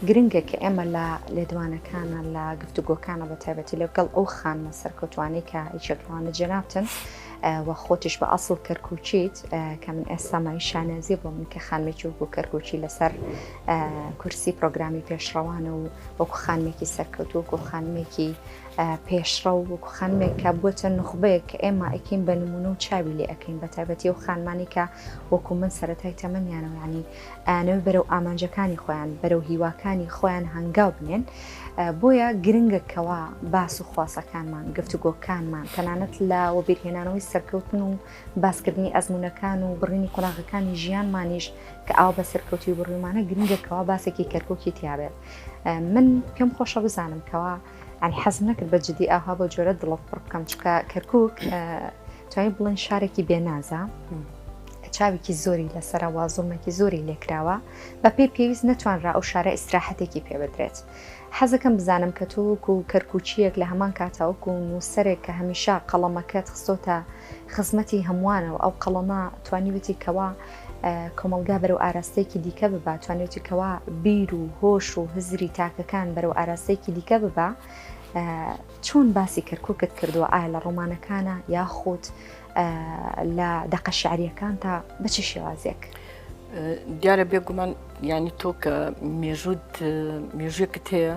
گرنگە کە ئێمە لە لێدوانەکانە لە گفتوگۆکانە بە تایبەتی لەگەڵ ئەو خانمە سەرکەوتوانی کە هیچەکانە جەنابتن و خۆتیش بە ئەسڵ کەرکوچیت کە من ئێستامای شانازی بۆ من کە خانمێکی وەکو کەرکوچی لەسەر کورسی پرۆگرامی پێشڕەوانە و وەکو خانمێکی سەرکەوتو وەکو خانمێکی پێشڕە و وەکو خانمێک کە بووە نخبەیەک کە ئێمە ئەکەین بە نمونە و چاوی لێ ئەەکەین بە تایبەتی و خانمانی کە وەکو من سەتای تەمەنیانەوەیانی ئەوی بەرەو ئامانجەکانی خۆیان بەرەو هیواکانی خۆیان هەنگاو بنێن بۆیە گرنگە کەوا باس و خواسەکانمان گفتوگۆکانمان تەنانەت لە وەبیرهێنانەوەی سەرکەوتن و باسکردنی ئەزموونەکان و بڕینی قۆناغەکانی ژیانمانیش کە ئاوا بە سەرکەوتوی بڕیومانە گرنگە کەوا باسێکی کەرکوکی تیابێت من پێم خۆشە بزانم کەوا ئەنی حەز نەکرد بە جدی ئاها بۆ جۆرە دڵۆف پڕ بکەم چکە کەرکک توانین بڵێن شارێکی بێنازە چاوێکی زۆری لەسەرەوە زوڵمێکی زۆری لێکراوە بە پێی پێویست نەتوانرا ئەو شارە ئیسراحەتێکی پێبدرێت. حەزەکەم بزانم کە تۆک و کەرکوچیەک لە هەمان کاتاوک و نووسەرێک کە هەمیشە قەڵەمەکەت خستۆتە خزمەتی هەمووانە و ئەو قەڵەمە توانیوێتی کەوا کۆمەڵگا بەرەو ئاراستەیەکی دیکە ببا توانیوێتی کەوا بیر و هۆش و هزری تاکەکان بەرەو ئاراستەیەکی دیکە ببا چۆن باسی کەرککت کردووە ئایا لە ڕۆمانەکانە یاخود لە دەقە شعریەکان تا بچی شێوازێک
دیارە بێگومان ینی تۆ کە مێژوت مێژوێکت هەیە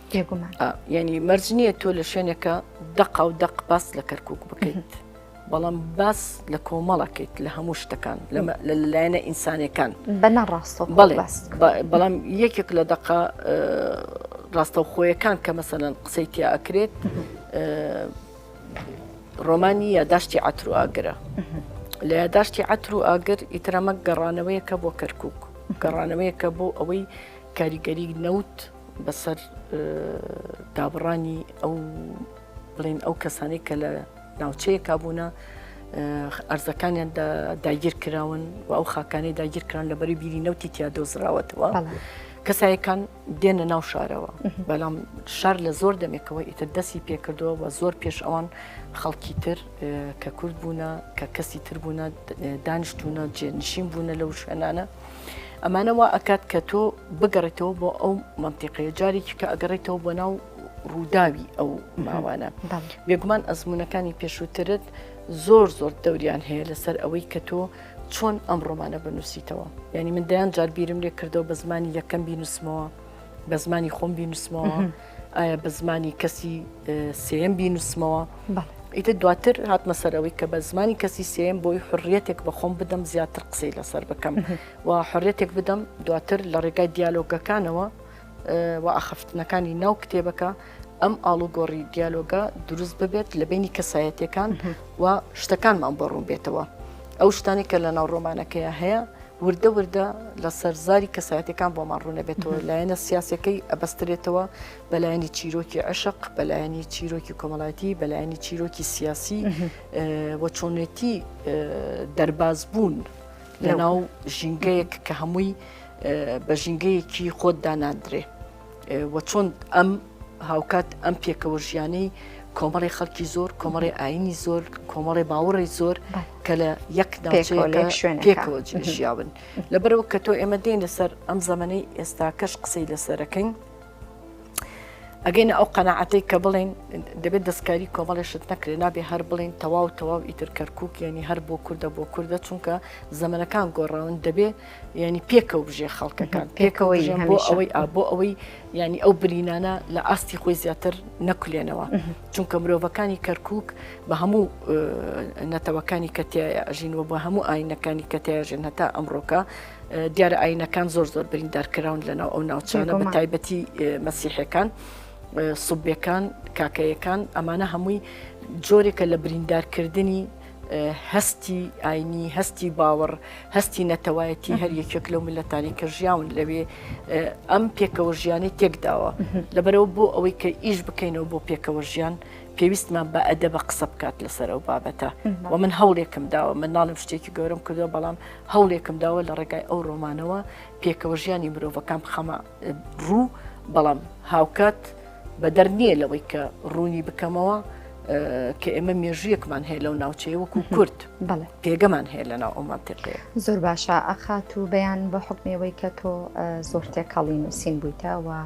بێگومان یعنی مەرج نییە تۆ لە شوێنێکە دەقا و دەق باس لە کەرکک بکەیت بەڵام باس لە کۆمەڵەکەیت لە هەموو شتەکان لە لایەنە ئینسانەکان بە
نەڕاستە
بەڵام یەکێک لە دەقا ڕاستەوخۆیەکان کە مەسەەن قسەی تیا ئەکرێت ڕۆمانی یاداشتی عتر و ئاگرە لە یاداشتی عتر و ئاگر ئیترەمە گەڕانەوەیەکە بۆ کەرکک گەڕانەوەیەکە بۆ ئەوەی کاریگەری نەوت بەسەر دابڕانی ئەو بڵێن ئەو کەسانی کە لە ناوچەیە کابوونە ئەرزەکانیان داگیر کراون و ئەو خاکانی داگیر کران لە بەری بیری نەوتی تیا دۆزراوەتەوە کەسایەکان دێنە ناو شارەوە بەڵام شار لە زۆر دەمێکەوە ئیتر دەستی پێکردەوە و زۆر پێش ئەوان خەڵکی تر کە کورد بوونە کە کەسی تر بوونە دانیشتونە جێنشین بوونە لەو شوێنانە ئەمانە وا ئەکات کە تۆ بگەڕێتەوە بۆ ئەو منتیقەیە جارێکی کە ئەگەڕێتەوە بۆ ناو ڕووداوی ئەو ماوانە بێگومان ئەزمونونەکانی پێشووترت زۆر زۆر دەوریان هەیە لەسەر ئەوەی کە تۆ چۆن ئەم ڕۆمانە بنووسیتەوە یعنی من دەیان جار بیرم لێ کردەوە بە زمانی یەکەم بینوسمەوە بە زمانی خۆم بینوسمەوە ئایا بە زمانی کەسی سێم بینوسمەوە ئیتر دواتر هاتمە سەرەوەی کە بە زمانی کەسی سێم بۆی حڕیەتێک بەخۆم بدەم زیاتر قسەی لەسەر بکەم و حڕێتێک بدەم دواتر لە ڕێگای دیالۆگەکانەوە و ئاخفتنەکانی ناو کتێبەکە ئەم ئاڵوگۆڕی دیالۆگە دروست ببێت لە بینی کەسایەتەکان و شتەکانمان بۆ ڕوون بێتەوە. ئەو شتانی کە لە ناو ڕۆمانەکەیە هەیە وردە وردە لەسەر زاری کەسایەتەکان بۆمان ڕوونەبێتەوە لایەنە سیاسەکەی ئەبەسترێتەوە بەلایەنی چیرۆکی عشق بەلایەنی چیرۆکی کۆمەڵایەتی بەلایەنی چیرۆکی سیاسی و چۆنێتی دەرباز بوون لە ناو ژینگەیەک کە هەمووی بە ژینگەیەکی خۆت داناندرێ. وە چۆن ئەم هاوکات ئەم پێکەوە ژیانەی کۆمەڵی خەڵکی زۆر کۆمەڵی ئاینی زۆر کۆمەڵی باوەڕی زۆر کە لە یەک شوێن پێکەوە ژیاون لەبەرەوە کە تۆ ئێمە دێن لەسەر ئەم زەمەەی ئێستا کەش قسەی لەسەرەکەین ئەگەینە ئەو قەنەعاتەی کە بڵێن دەبێت دەستکاری کۆمەڵێشت نەکرێ نابێ هەر بڵین تەواو تەواو ئیتر کەرکک یعنی هەر بۆ کووردە بۆ کووردە چونکە زەمنەکان گۆڕاون دەبێت ینی پێکەوە بژێ خەڵکەکان پێکەوەی بۆ ئەوەی بۆ ئەوەی ینی ئەو برینانە لە ئاستی خۆی زیاتر نەکولێنەوە چونکە مرۆڤەکانی کەرکک بە هەموو نەتەوەکانی کەتیای ئەژینەوە بە هەموو ئاینەکانی کەتیاژێن هەتا ئەمڕۆکە دیارە ئاینەکان زۆر زۆر بریندارکراون لەناو ئەو ناوچانە بە تایبەتی مەسیحەکان. سوبیەکان کاکەیەکان ئەمانە هەمووی جۆرێکە لە بریندارکردنی هەستی ئاینی هەستی باوەڕ هەستی نەتەوایەتی هەر یەکێک لەو ملەتانی کە ژیاون لەوێ ئەم پێکەوە ژیانی تێکداوە لەبەرەوە بۆ ئەوەی کە ئیش بکەینەوە بۆ پێکەوە ژیان پێویستمان بە ئەدە بە قسە بکات لەسەر ئەو بابەتە و من هەوڵێکم داوە من ناڵم شتێکی گەورم کردو بەڵام هەوڵێکم داوە لە ڕێگای ئەو ڕۆمانەوە پێکەوە ژیانی مرۆڤەکان بخەمە ڕوو بەڵام هاوکات بەدەر نییە لەوەی کە ڕوونی بکەمەوە کە ئێمە مێژویەکمان هەیە لەو ناوچەیە وەکو کورد بڵێ پێگەمان هەیە لە ناو ئەومان تێقەیە زۆر باشە
ئەخات و بەیان بە حکمەوەی کە تۆ زۆر تێکەڵی نووسین بوویتەوە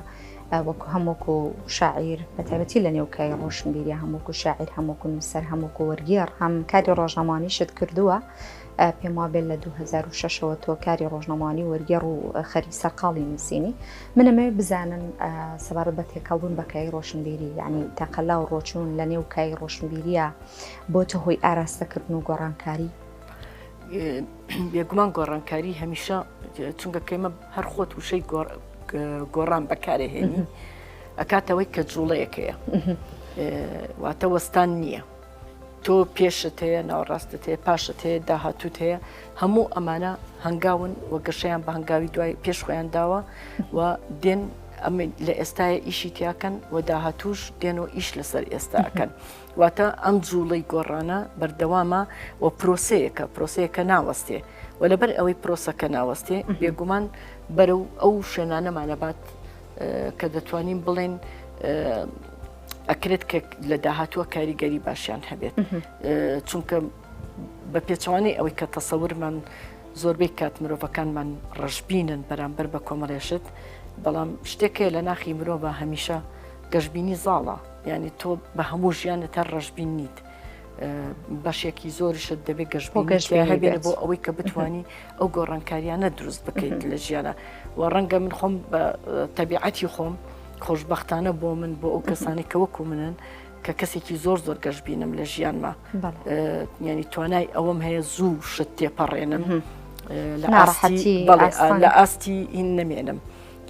وەکو هەمووکو شاعیر بە تایبەتی لە نێوکای ڕۆشنبیری هەمووکو شاعیر هەمووکو نووسەر هەمووکو وەرگێڕ هەم کاری ڕۆژنامانیشت کردووە پێم وابێت لە 2006 ەوە تۆ کاری ڕۆژنەمانی وەرگێڕ و خەری سەرقاڵی نووسینی منەمەوێت بزانن سەبارەت بە تێکەڵبوون بەکای ڕۆشنبیری ینی تەقەلا و ڕۆچون لە نێو کای ڕۆشنبیریە بۆ تۆ هۆی ئاراستەکردن و گۆڕانکاری
بێگومان گۆڕانکاری هەمیشە چونگە کەمە هەر خۆت وشەی گۆڕان بەکارێهێنی ئەکاتەوەی کە جوڵەیەکەیە واتە وەستان نییە. تۆ پێشت هەیە ناوەڕاستت هەیە پاشت هەیە داهاتوت هەیە هەموو ئەمانە هەنگاون و گەشەیان بە هەنگاوی دوای پێش خۆیان داوە و دێن ئەمە لە ئێستاە ئیشی تیاکەن و داهاتوش دێن و ئیش لەسەر ئێستاکەن واتە ئەم جوڵەی گۆڕانە بەردەوامە و پرۆسەیەکە پرۆسەیەکە ناوەستێ و لەبەر ئەوەی پرۆسەکە ناوەستێ بێگومان بەرە و ئەو شوێنانەمانەبات کە دەتوانین بڵێن ئەکرێت کە لە داهاتووە کاریگەری باشیان هەبێت چونکە بە پێچوانەی ئەوەی کە تەسەورمان زۆربەی کات مرۆڤەکانمان ڕژبینن بەرامبەر بە کۆمەڵێشت بەڵام شتێکێ لە ناخی مرۆڤ هەمیشە گەشببینی زاڵە یعنی تۆ بە هەموو ژیانت هەر ڕژبین نیت بەشێکی زۆرشت دەبێت گەشت بۆ گەشت هەبێت بۆ ئەوەی کە بتانی ئەو گۆڕانکاریانە دروست بکەیت لە ژیانە و ڕەنگە من خۆم بە تەبیعەتی خۆم خۆشببختانە بۆ من بۆ ئەو کەسانی کە وەکو منن کە کەسێکی زۆر زۆر گەشت بینم لە ژیانما ینی توانای ئەوەم هەیە زوو شت تێپەڕێنم لە ئاستی لە ئاستی ئین نەمێنم.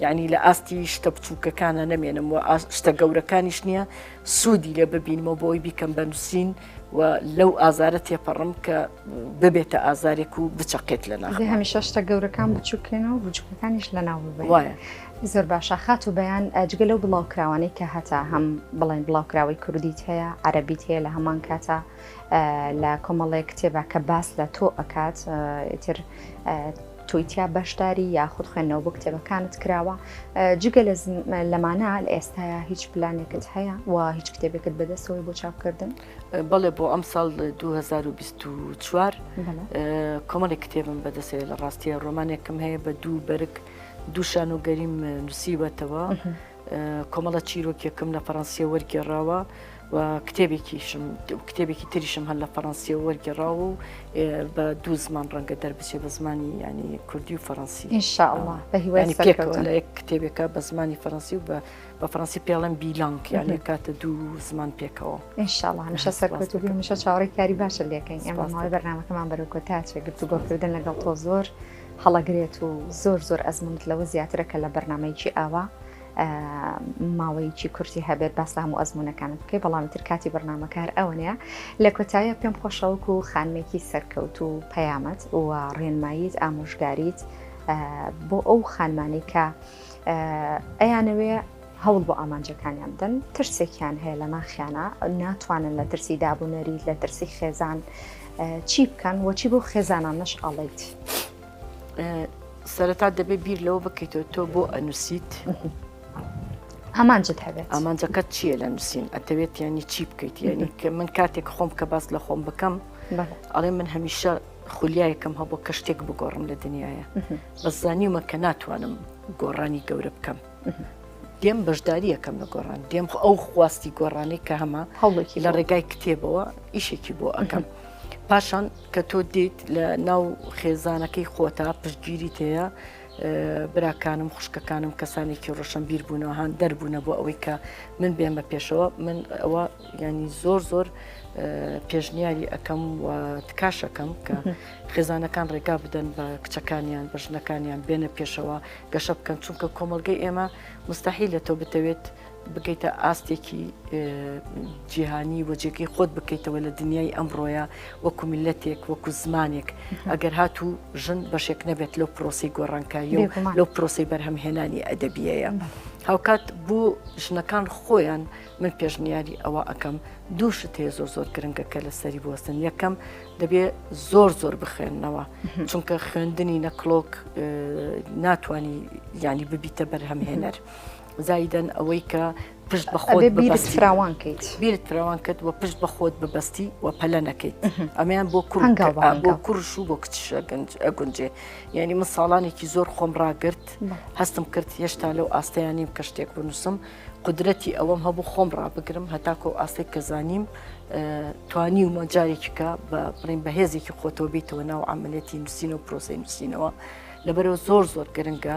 یانی لە ئاستی شتە بچووکەکانە نەمێنم و شتە گەورەکانیش نییە سوودی لێ ببینمەوە بۆی بیکەم بە نووسین و لەو ئازارە تێپەڕم کە ببێتە ئازارێک و بچەقێت لە ناخ هەمیشە شتە گەورەکان
بچووکێن و بچووکەکانیش لە ناو وایە زۆر باشە خات و بەیان ئەجگە لەو بڵاوکراوانەی کە هەتا هەم بڵێن بڵاوکراوەی کوردیت هەیە عەربیت هەیە لە هەمان کاتە لە کۆمەڵێک کتێبە کە باس لە تۆ ئەکات تر تۆی تیا بەشداری یاخود خوێندنەوە بۆ کتێبەکانت کراوە؟ جگە لەمانە لە ئێستایا هیچ پلانێکت هەیە و هیچ کتێبێکت بەدەستەوەی بۆ چاپکردن؟ بەڵێ بۆ ئەم
ساڵ 2024 کۆمەڵی کتێبم بەدەسێ لە ڕاستیە ڕۆمانێکم هەیە بە دوو بەرگ دووشان و گەریم نووسیوەتەوە. کۆمەڵە چیرۆکێکم لە فەڕەنسیە وەرگێڕاوە و کتێبێکیشم کتێبێکی تریشم هەر لە فەڕەنسیە وەرگێڕاوە و بە دوو زمان ڕەنگە دەربچێ بە زمانی ینی کوردی و فەڕەنسی ئینشاءله بە هیوای
پێکەوە لە یەک کتێبێکە
بە زمانی فەڕەنسی و بە بە فەڕەنسی پێڵم بیلانک یان کاتە دوو زمان پێکەوە ئینشاءله هەمیشە
سەرکەوت و هەمیشە چاوەڕێی کاری باشە لەکەین ئەمە ماوەی بەرنمەکەمان بەرەو کۆتا چێ گرتوگۆکردن لەگەڵ تۆ زۆر. هەڵەگرێت و زۆر زۆر ئەزمونت لەوە زیاترە کە لە بەرنمەیەکی ئاوا ماوەیەکی کورتی هەبێت باس هەموو ئەزمونونەکانت بکەی بەڵام تر کاتی بەرنمەکار ئەوەنەیە لە کۆتایە پێم خۆشەوەک و خانمێکی سەرکەوت و پەیامەت و ڕێنماییت ئامۆژگاریت بۆ ئەو خانمانەی کە ئەیانەوێ هەوڵ بۆ ئامانجەکانیان بدەن ترسێکیان هەیە لە ناخیانە ناتوانن لە ترسی دابوونەری لە ترسی خێزان چی بکەن وەچی بۆ خێزانان نەش ئەڵیت
سەرەتا دەبێ بیر لەوە بکەیتەوە تۆ بۆ ئەنووسیت
ئامانجت هەبێت ئامانجەکەت چییە لە
نووسین ئەتەوێت ینی چی بکەیت ینی کە من کاتێک خۆم کە باس لە خۆم بکەم ئەڵێ من هەمیشە خولیایەکەم هەبوو کە شتێک بگۆڕم لە دنیاە بەزانیمە کە ناتوانم گۆڕانی گەورە بکەم دێم بەشداریەکەم لە گۆڕان دێم ئەو خواستی گۆڕانی کە هەمە هەوڵێکی لە ڕێگای
کتێبەوە
ئیشێکی بۆ ئەەکەم پاشان کە تۆ دیت لە ناو خێزانەکەی خۆتا پشتگیری تەیە براکانم خوشکەکانم کەسانێکی ڕۆشن بیر بوونەوە هاان دەربوونە بۆ ئەوەی کە من بێمە پێشەوە من ئەوە ینی زۆر زۆر پێشنیاری ئەەکەم و تکاشەکەم کە خێزانەکان ڕێگا بدەن بە کچەکانیان بە ژنەکانیان بێنە پێشەوە گەشە بکەن چونکە کۆمەڵگەی ئێمە مستحیلە تۆ بتەوێت بگەیتە ئاستێکی جیهانی وەجێکی خۆت بکەیتەوە لە دنیای ئەمڕۆیە وەکو میلەتێک وەکو زمانێک ئەگەر هاتوو ژن بەشێک نەبێت لەو پرۆسی گۆڕانکایی لەو پرۆسی بەرهەمهێنانی ئەدەبیەیە. هاوکات بۆ ژنەکان خۆیان من پێشنیاری ئەوە ئەەکەم دوو شت هەیە زۆر زۆر گرنگەکە لە سەری بوەستن یەکەم دەبێ زۆر زۆر بخوێندنەوە چونکە خوێندنی نەکلۆک ناتانی ینی ببیتە بەرهەمهێنەر زایدەن ئەوەی کە پشت بەخۆت بیرت فراوان کەیت بیرت
فراوان کرد و
پشت بەخۆت ببەستی و پەلە نەکەیت ئەمیان بۆ بۆ
کوڕش و بۆ
کچشە گونجێ یعنی من ساڵانێکی زۆر خۆم ڕاگرت هەستم کرد هێشتا لەو ئاستەیانیم کە شتێک بنووسم قودرەتی ئەوەم هەبوو خۆم ڕابگرم هەتاکۆ ئاستێک کە زانیم توانیومە جارێکیکە بە بڵین بەهێزێکی خۆتەوە بیتەوە ناو ئەعملەتی نووسین و پرۆسی نووسینەوە لەبەرەوە زۆر زۆر گرنگە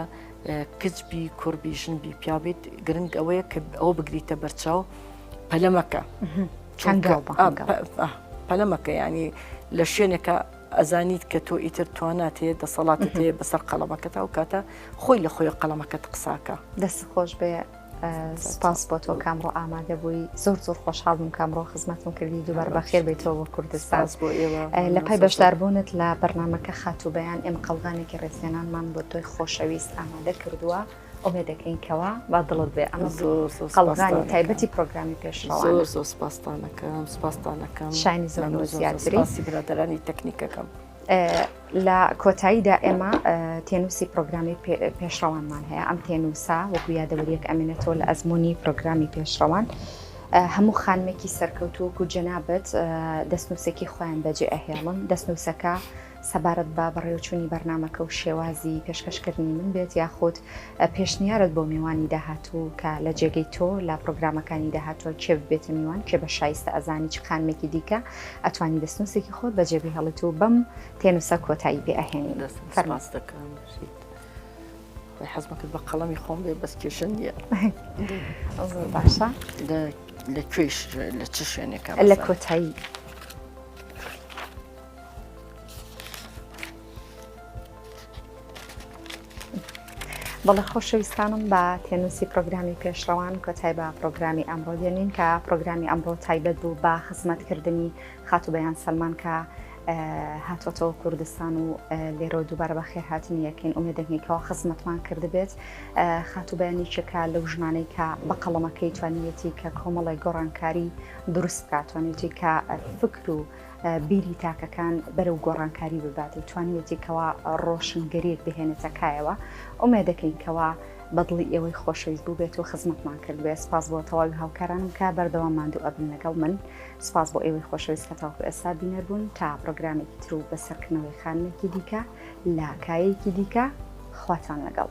کچبی کوڕبی ژنبی پیاویت گرنگ ئەوەیە کە ئەوە بگریتە بەرچاو پەلەمەکە پەلەمەکە ینی لە شوێنێکە ئەزانیت کە تۆ ئیتر توانات هەیە دەسەڵاتت هەیە بەسەر قەڵەمەکەت ئەو کاتە خۆی لە خۆی قەڵەمەکەت قساکە دەست خۆش بێ
سپاس بۆ تۆ کامڕۆ ئامادە بووی زۆر زۆر خۆشحاڵ بووم کامڕۆ خزمەتم کردی دووبار بەخێر بێتەوە بۆ کوردستان بۆ ئێوە لە
پای بەشداربوونت
لە بەرنمەکە خاتوو بەیان ئێم قەڵغانێکی ڕێزێنانمان بۆ تۆی خۆشەویست ئامادە کردووە ئۆمێ دەکەین کەوا با دڵت بێ ئەمە قەڵغانی تایبەتی پرۆگرامی پێش زۆر زۆر سپاستانەکەم
سپاستانەکەم شانی زۆر
زیاتریسی برادرانی
تەکنیکەکەم
لە کۆتاییدا ئێمە تێنووسی پرۆگرامی پێشڕەوانمان هەیە ئەم تێنووسا وەکو یادەوەریەک ئەمێنێتەوە لە ئەزمموی پرۆگرامی پێشڕەوان هەموو خانمێکی سەرکەوتووەکو جەنابەت دەستنووسێکی خۆیان بەجێ ئەهێڵن دەستنووسەکە سەبارەت بە بەڕێوەچوونی بەرنامەکە و شێوازی پێشکەشکردنی من بێت یاخود پێشنیارت بۆ میوانی داهاتوو کە لە جێگەی تۆ لە پڕۆگرامەکانی داهاتووە کێ ببێتە میوان کێ بە شایستە ئەزانی چ خانمێکی دیکە ئەتوانی دەستنووسێکی خۆت بەجێ بهێڵیت و بەم تێنووسە کۆتایی پێ ئەهێنین دەست فەرماس
دەکەم بژیت. خۆی حەزمە
کرد بە قەڵەمی خۆم بێ بەس کێشە نییە زۆر باشە لە- لە کوێش لە چ شوێنێکە لە کۆتایی بەڵێ خۆشەویستانم بە تێنووسی پرۆگرامی پێشڕەوان کۆتای بە پرۆگرامی ئەمڕۆ دێنین کە پرۆگرامی ئەمڕۆ تایبەت بوو بە خزمەتکردنی خاتوبیان سلمان کە هاتۆتەوە کوردستان و لێرەوە دووبارە بە خێرهاتنی یەکەین ئومێ دەنگێکەوە خزمەتمان کردبێت خاتوبیانی چێکا لەو ژمانەی کە بە قەڵەمەکەی توانیەتی کە کۆمەڵی گۆڕانکاری دروست بکاتوانێتی کە فکر و بیری تاکەکان بەرەو گۆڕانکاری ببات و توانیوێتی کەوا ڕۆشنگەریەک بهێنێتە کایەوە ئومێ دەکەین کەوا بەدڵی ئێوەی خۆشەویست بوو بێت و خزمەتمان کرد بێ سپاس بۆ تەواوی هاوکارانم کە بەردەوام ماندوو ئەبن لەگەڵ من سپاس بۆ ئێوەی خۆشەویست کە تاوکو ئێستا بینەر بوون تا پرۆگرامێکی تر و بەسەرکردنەوەی خانمێکی دیکە لە کایەکی دیکە خواتان لەگەڵ.